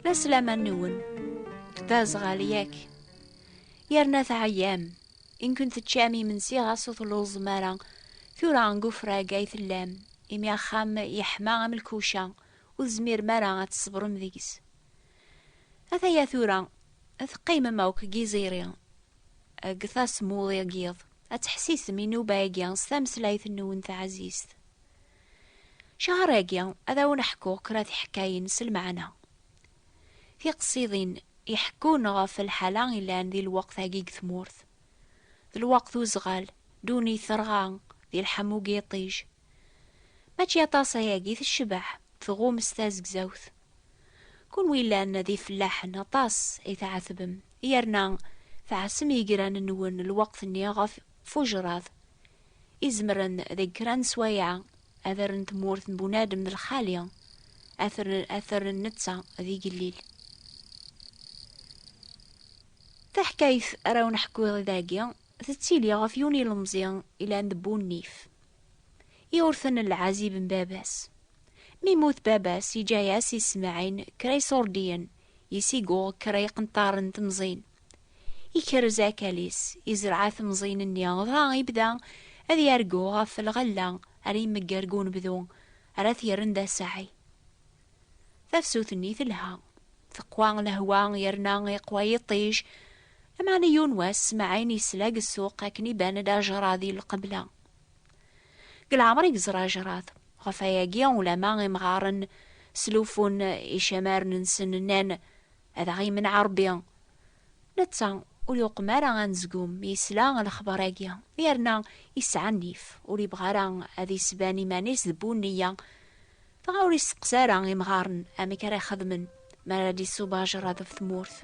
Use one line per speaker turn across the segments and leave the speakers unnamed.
La slaman-nwen. D aẓɣal yak. Yerna teɛyam. Inkun teččam imensi ɣas ur telluẓem ara. Tura deg ufrag ay tellam, imi axxam yeḥma am lkuca, ur tezmirem ara ad tṣebrem deg-s. Ataya tura, ad teqqimem akk deg yiẓiri, deg tasmuḍi n yiḍ, ad teḥsisem inuba-agi s tameslayt-nwen taɛzizt. Cahar-agi ad awen-ḥkuɣ kra tiḥkayin s lmeɛna. Tiqsiḍin iḥekkun ɣef lḥala ilan di lweqt-agi deg tmurt. D lweqt uzɣal, ddunit terɣa, di lḥamu deg yiṭij. Mačči aṭas ayagi tecbeḥ tɣum s tazegzawt. Kunwi ilan d ifellaḥen aṭas i tɛetbem yerna tɛassem yegran-nwen lweqt-nni ɣef fujraḍ izemren deg kra n sswayeɛ ad rren tmurt n bunadem d lxali, ad t-rren netta d igellil. Taḥkayt ara wen-ḥkuɣ i dagi, tettili ɣef yiwen ilemẓi ilan d bu nnif. Iwurten lɛazib n baba-s. Mi immut baba-s, iǧǧa-yas Ismaɛin kra iṣurdiyen, yesiguɣ kra iqenṭaren n temẓin, Ikerrez akal-is, izreɛ temẓin-nni, dɣa ibda ad yargu ɣef lɣella ara imegger deg unebdu ara t-yerren d asaɛi. Tafsut-nni telha, teqwa lehwa yerna iqwa yiṭij, lameɛna yiwen wass Smaɛin yesla deg ssuq akken iban-d ajrad i lqebla. Deg leɛmer i yeẓra ajrad, ɣef wayagi ulamma imɣaren sluffun icamaren-nsen, nnan Ad aɣ-imneɛ Ṛebbi! Netta ur yuqem ara anezgum mi yesla lexbar-agi, yerna yesɛa nnif, ur yebɣi ara ad yesban iman-is d bu nneyya. Dɣa ur yesteqsa ara imɣaren amek ara xedmen mi ara d-iṣub ajerred ɣef tmurt.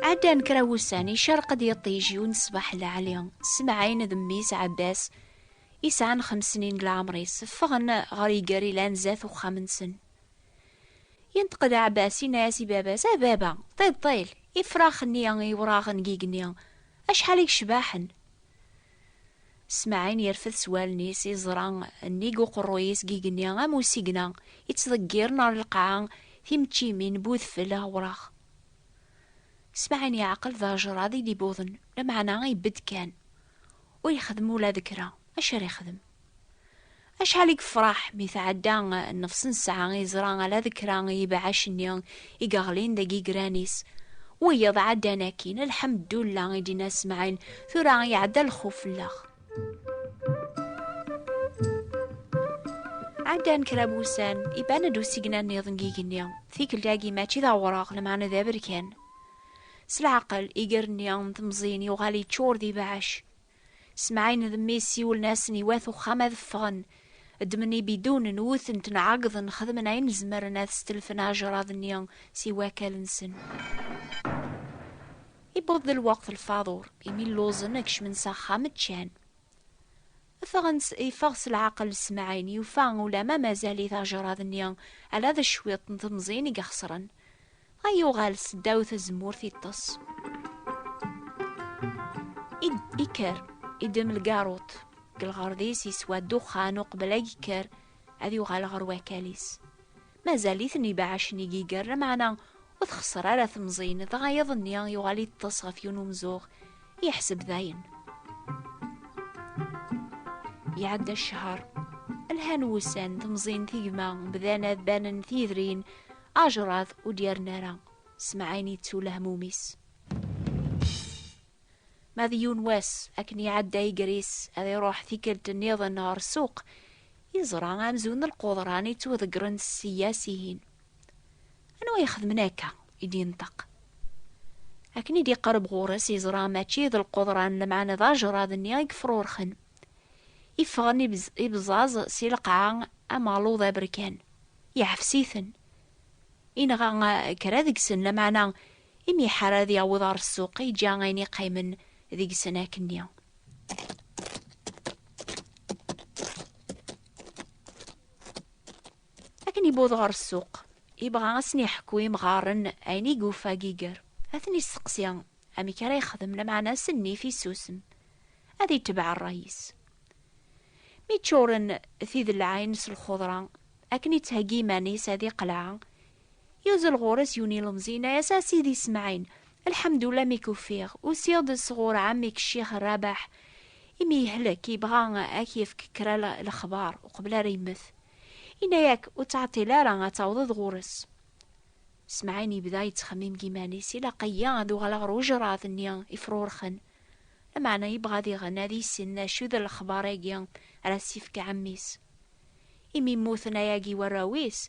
Ɛeddan kra wussan, icerq-d yiṭij yiwen ṣṣbeḥ lɛali, Semɛin d mmi-s Ɛebbas i sɛan xemsnin n leɛmer-is, ffɣen ɣer iger ilan zdat uxxam-nsen. Yenṭeq-d Ɛebbas, yenna-as i baba-s, A baba, ṭiṭṭil, ifrax-nni iwraɣen deg igenni, acḥal i yecbaḥen! Smaɛin yerfed s wallen-is iẓra nnig uqerruy-is deg igenni am usigna yettḍeggiren ɣer lqaɛa timeččimin n udfel awraɣ. Smaɛin yeɛqel d ajrad i d-ibuḍen, lameɛna ibedd kan. Ur yexdim ula d kra. Acu ara yexdem? Acḥal i yefraḥ mi tɛedda nnefs nesɛa yeẓra ala d kra n yibeɛɛac-nni i yeɣlin deg yigran-is. Wiyiḍ ɛeddan akkin, alḥemddulla i d-yenna Smaɛil, tura iɛedda lxuf fell-aɣ. Ɛeddan kra n wussan, iban-d usigna-nniḍen n yigenni. Tikkelt-agi mačči d awraɣ, lameɛna d aberkan. S leɛqel, iger-nni n temẓin yuɣal yeččur d ibeɛɛac. Semɛin d mmi-s siwlen-asen i wat uxxam ad ffɣen. Ddmen ibidunen, wwten-ten, ɛeggḍen, xedmen ayen zemren ad stelfen aɛejrad-nni si wakal-nsen. Iwweḍ-d lweqt n lfaḍur, imi lluẓen, kecmen s axxam, ččan. Ffɣen-tt, yeffeɣ s leɛqel Smaɛil, yufa ulamma mazal-it ajerrad-nni, ala d cwiṭ n temẓin i ixesren. Dɣa yuɣal s ddaw tzemmurt iṭṭes. Id, ikker, idem lgaruṭ, deg lɣerḍ-is yeswa ddexxan uqbel ad yekker ad yuɣal ɣer wakal-is. mazal-iten ibeɛɛacen i yiger, lameɛna ur txesser ara temẓin, dɣa yiḍ-nni yuɣal yeṭṭes ɣef yiwen umzuɣ, yeḥseb dayen. Iɛedda ccehr, lhan wussan, temẓin tigma, bdan ad banen tiyedrin, ajrad ur d-yerna ara, s mɛin yettu lehmum-is. Ma d yiwen wass akken iɛedda igris ad iruḥ tikkelt nniḍen ɣer ssuq, yeẓra amzun n lqudran yettwaḍeggren ssya sihin. Anwa ixedmen akka? i d-yenṭeq. Akken i d-iqerreb ɣur-s yeẓra mačči d lqudran lemɛan d ajrad-nni i yefrurxen. Iffɣen ibẓaẓ si lqaɛa am aluḍ aberkan. Yeɛfes-iten. Inɣa kra deg-sen lameɛna Imi iḥar ad yaweḍ ɣer ssuq, yeǧǧa ayen iqqimen deg-sen akkenni. Akken iwweḍ ɣer ssuq, yebɣa ad sen-yeḥku imɣaren ayen i yufa deg iger. Ad ten-yesteqsi amek ara yexdem, lameɛna s nnif yessusem, ad yetbeɛ rray-is. Mi ččuren tidelɛayin s lxudra, akken yettheggi iman-is ad iqleɛ, Yuzzel ɣur-s yiwen ilemẓi yenna-as, A Sidi Smaɛil, lḥemdullah mi k-ufiɣ, usiɣ-d sɣur ɛemmi-k Ccix Rrabeḥ, imi yehlek, yebɣa ad k-yefk kra lexbar uqbel ara yemmet. Yenna-ak, ur ttɛeṭṭil ara ad tawḍeḍ ɣur-s. Smaɛil yebda yettxemmim deg yiman-is, ilaq-iyi ad uɣaleɣ ɣer ujṛad-nni ifrurxen, lameɛna yebɣa ad iɣen ad yissin d acu i d lexbar-agi ara s-yefk ɛemmi-s. Imi mmuten ayagi warraw-is,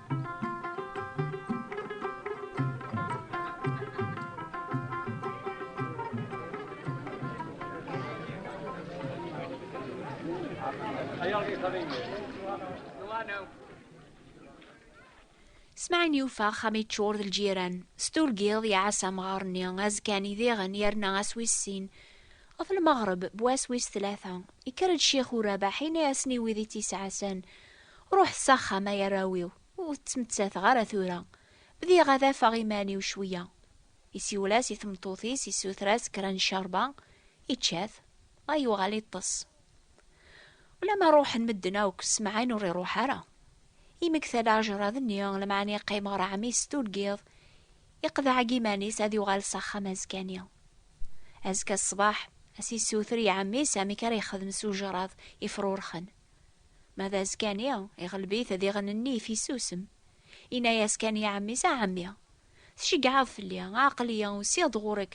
Smaɛin yufa axxam yeččur d lǧiran. S turgiḍ iɛas amɣar-nni azekkan i diɣen yerna ass wis sin. Ɣef lmeɣreb, bu ass wis tlata, ikker-d Ccix Urabaḥ ini-asen i wid i tt-isɛasen. Ruḥet s axxam ay arraw-iw, ur ttmettateɣ ara tura. Bdiɣ ad afeɣ iman-iw cwiya. Isiwel-as i tmeṭṭut-is, issuter-as kra n ccerba, ičča-t, dɣa yuɣal iṭṭes. Ulamma ruḥen medden akk, Smaɛin ur iruḥ ara. Yemmekta-d ajerrad-nni, lemɛani yeqqim ɣer ɛemmi-s tuggiḍ, iqḍeɛ-agi iman-is ad yuɣal s axxam azekka-nni. Azekka ṣṣbeḥ, ad s-issuter i ɛemmi-s amek ara yexdem s ujerrad ifrurxen. Ma d azekani, iɣleb-it diɣen-nni ifissusem. Yenna-yas kan i ɛemmi-s, A ɛemmi, tceggɛeḍ fell-i, aql-iyi usiɣ-d ɣur-k,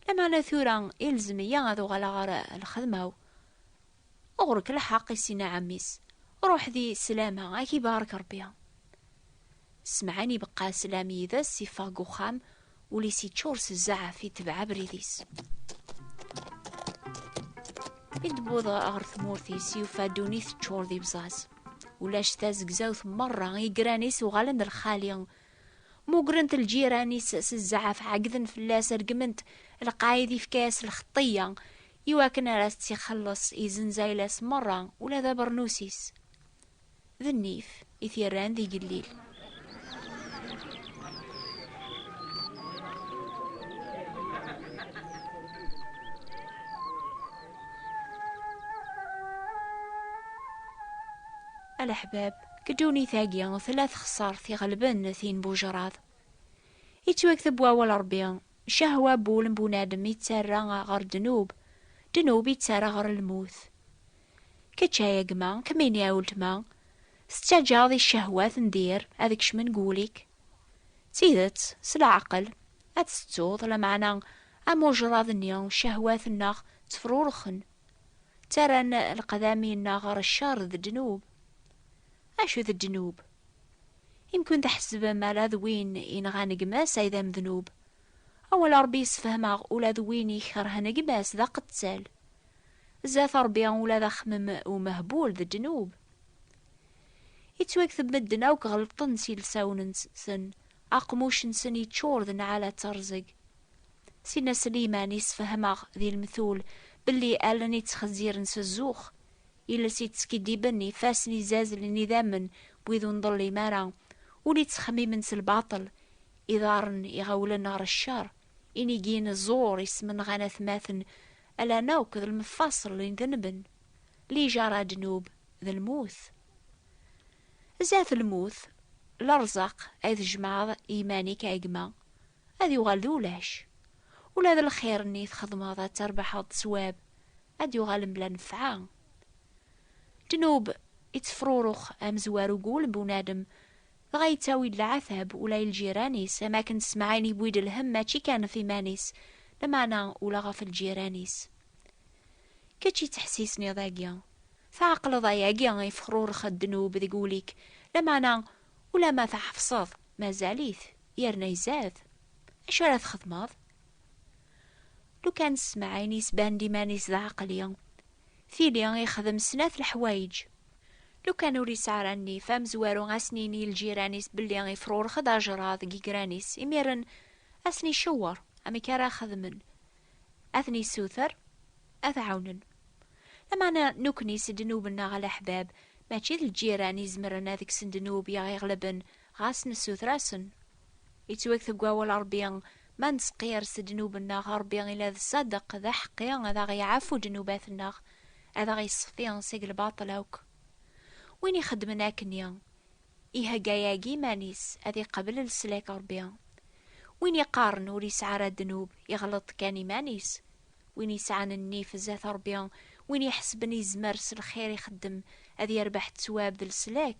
lameɛna tura ilzem-iyi ad uɣaleɣ ɣer lxedma-w. Ɣur-k lḥeqq, i s-yenna ɛemmi-s, ruḥ di sslam-a, a k-ibarek Rebbi. Ssemɛen ibeqqa slam yid-s, iffeɣ deg uxxam, ul-is yeččur s zzaɛf, itebɛ abrid-is. I d-wweḍ ɣer tmurt-is, yufa ddunit teččur d ibẓaẓ. Ulac tazegzawt merra, igran-is uɣalen d lxali. Mugren-t lǧiran-is s zzaɛf, ɛeggden fell-as, regmen-t, lqayed yefka-as lxeṭṭiyya, iwakken ara as-tt-ixelleṣ, izenz ayla-s merra, ula d abernus-is. d nnif i t-yerran d igellil. Alaḥbab, deg ddunit-agi tella texsart iɣelben tin n bujraḍ. Yettwakteb wawal Ṛebbi, cahwa n wul n bunadem ittarra ɣer ddnub, ddnub ittarra ɣer lmut. Kečč ay agma, kemmini ay uletma, tettaǧǧaḍ i ccehwat n dir ad kecmen deg wul-ik? D tidet, s leɛqel, ad t-tettuḍ, lameɛna am ujṛad-nni, ccehwat-nneɣ ttefrurxen, ttarran leqdami-nneɣ ɣer cceṛ d ddnub. Acu d ddnub? Imkun tḥesbem ala d win yenɣan gma-s ay d amednub, Awal Ṛebbi yessefhem-aɣ ula d win ikerhen gma-s d aqettal. Zdat Ṛebbi ula d axemmem umehbul d ddnub. Ittwakteb medden akk ɣelṭen s ilsawen-nsen, aqmuc-nsen yeččur d nnɛala d teṛẓeg. Sidna Sliman yessefhem-aɣ di lemtul belli allen yettxezziren s zzux, iles yettskiddiben, ifassen izzazlen idammen n wid ur nḍellim ara, ul yettxemmimen s lbaṭel, Iḍarren iɣawlen ɣer ccer, inigin ẓur ismenɣan atmaten, ala nawk d lmeffaṣel n denben, lijara ddnub d lmut. Zdat lmut, lerzaq ay tjemɛeḍ i yiman-ik a gma, ad yuɣal d ulac. Ula d lxir-nni i txedmeḍ ad terbeḥeḍ sswab, ad d-yuɣal mebla nnfeɛ. Ddnub ittefrurux amezwaru deg wul n bunadem, dɣa yettawi-d leɛtab ula i lǧiran-is, am akken Smaɛil yewwi-d lhemm mačči kan ɣef iman-is, lameɛna ula ɣef lǧiran-is. Kečč yettḥessisniḍ agi, tɛeqleḍ ayagi ifexrurex ddnub deg wul-ik, lameɛna ulamma tɛefseḍ mazal-it yerna izad, acu ara txedmeḍ? Lukan Smaɛil yesban-d iman-is d aɛeqli, Tili yexdem snat leḥwayeǧ. Lukan ur yesɛi ara nnif, amezwaru ad sen-yini i lǧiran-is belli ifrurex-d ajṛad deg yegran-is, imiren ad sen-icewweṛ amek ara xedmen, ad ten-yessuter ad t-ɛawnen. Lameɛna nekkni s ddnub-nneɣ a leḥbab, mačči d lǧiran i izemren ad kksen ddnub i aɣ-iɣelben, ɣas nessuter-asen Yettweg deg wawal Rebbi, ma nesqiyers ddnub-nneɣ, Rebbi ila d ṣṣadeq, d aḥeqqi, ad aɣ-yeɛfu ddnubat-nneɣ, ad aɣ-yessexti seg lbaṭel akk. Win ixeddmen akkenni, ihegga yagi iman-is ad iqabel leslak n Rebbi. Win iqqaren ur yesɛi ara ddnub, iɣleḍ kan iman-is. Win yesɛan nnif zdat Rebbi, win iḥesben yezmer s lxir ixeddem ad yerbeḥ ttwab d leslak,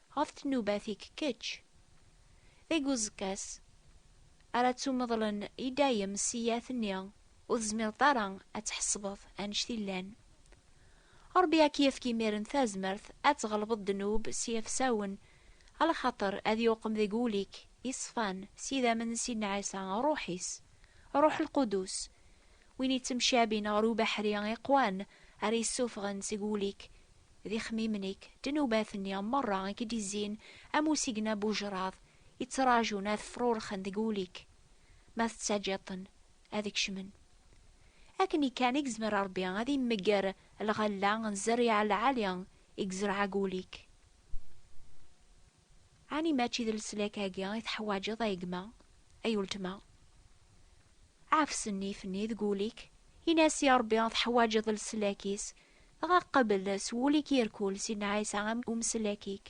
ɣef tnubat-ik kečč. Deg uẓekka-s ara ttumeḍlen i dayem ssiyat-nni, ur tezmireḍ ara ad tḥesbeḍ annect i llan. Ṛebbi ad k-yefk imiren tazmert ad tɣelbeḍ ddnub s yefsawen, alaxaṭer ad yuqem deg wul-ik iṣfan s yidammen n Sidna Ɛisa, Ṛṛuḥ-is, Ṛṛuḥ Lqudus, win ittemcabin ɣer ubeḥri iqwan ara yessufɣen seg wul-ik D ixemmimen ik, ddnubat-nni merra i k-id-izzin am usigna n wejraḍ, i ttrajun ad frurxen deg wul-ik, ma tettaǧǧiḍ-ten ad kecmen. Akken kan i yezmer Rebbi ad imegger lɣella n zzerriɛa lɛali i yezreɛ deg wul-ik. Ɛni mačči d leslak-agi i teḥwaǧeḍ a gma, ay uletma? Ɛfes nnif-nni deg wul-ik, in-as i Rebbi teḥwaǧeḍ leslak-is Ɣa qabel s wul-ik irkul Sidna Ɛisa am umeslak-ik.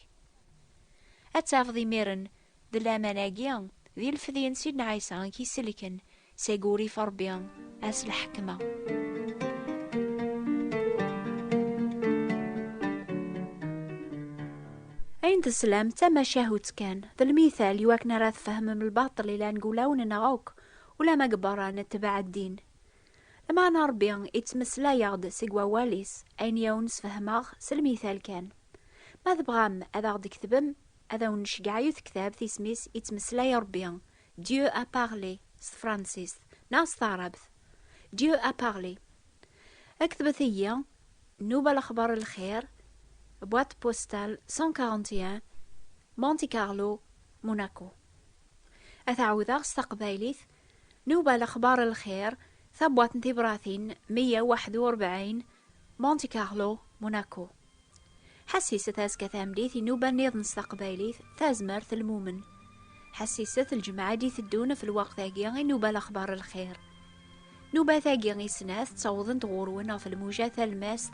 Ad tafeḍ imiren d laman-agi d ilefdi n Sidna Ɛisa i k-iselken seg urif Rebbi ar s lḥekma. Ayen teslam d tamacahut kan, d lmithal iwakken ara tfehmem lbaṭel ilan deg ulawen-nneɣ akk, ulamma deg berra netbeɛ ddin. Lmeɛna Ṛebbi ittmeslay-aɣ-d seg wawal-is, ayen i awen-sfehmeɣ s lmital kan. Ma tebɣam ad aɣ-d-ketbem, ad awen-nceggeɛ yiwet ktabt isem-is Ittmeslay Ṛebbi, Dieu a parlé, s tefransist, neɣ s taɛrabt, Dieu a parlé. Ketbet-iyi, Nnuba Lexbar Lxir, boîte postale 141, Monte Carlo, Monaco. Ad t-ɛawdeɣ s taqbaylit, Nuba Lexbar n Lxir, Tabwaṭ n Tibratin meyya u waḥed u rebɛin, Monte Carlo, Monaco. Ḥassiset azekka tameddit inuba nniḍen s taqbaylit, Tazmert, Lmumen. Ḥassiset lǧemɛa i d-iteddun ɣef lweqt-agi inuba Lexbar n Lxir. Nuba-tagi i snat ttawḍent ɣur-wen ɣef lmuja talmast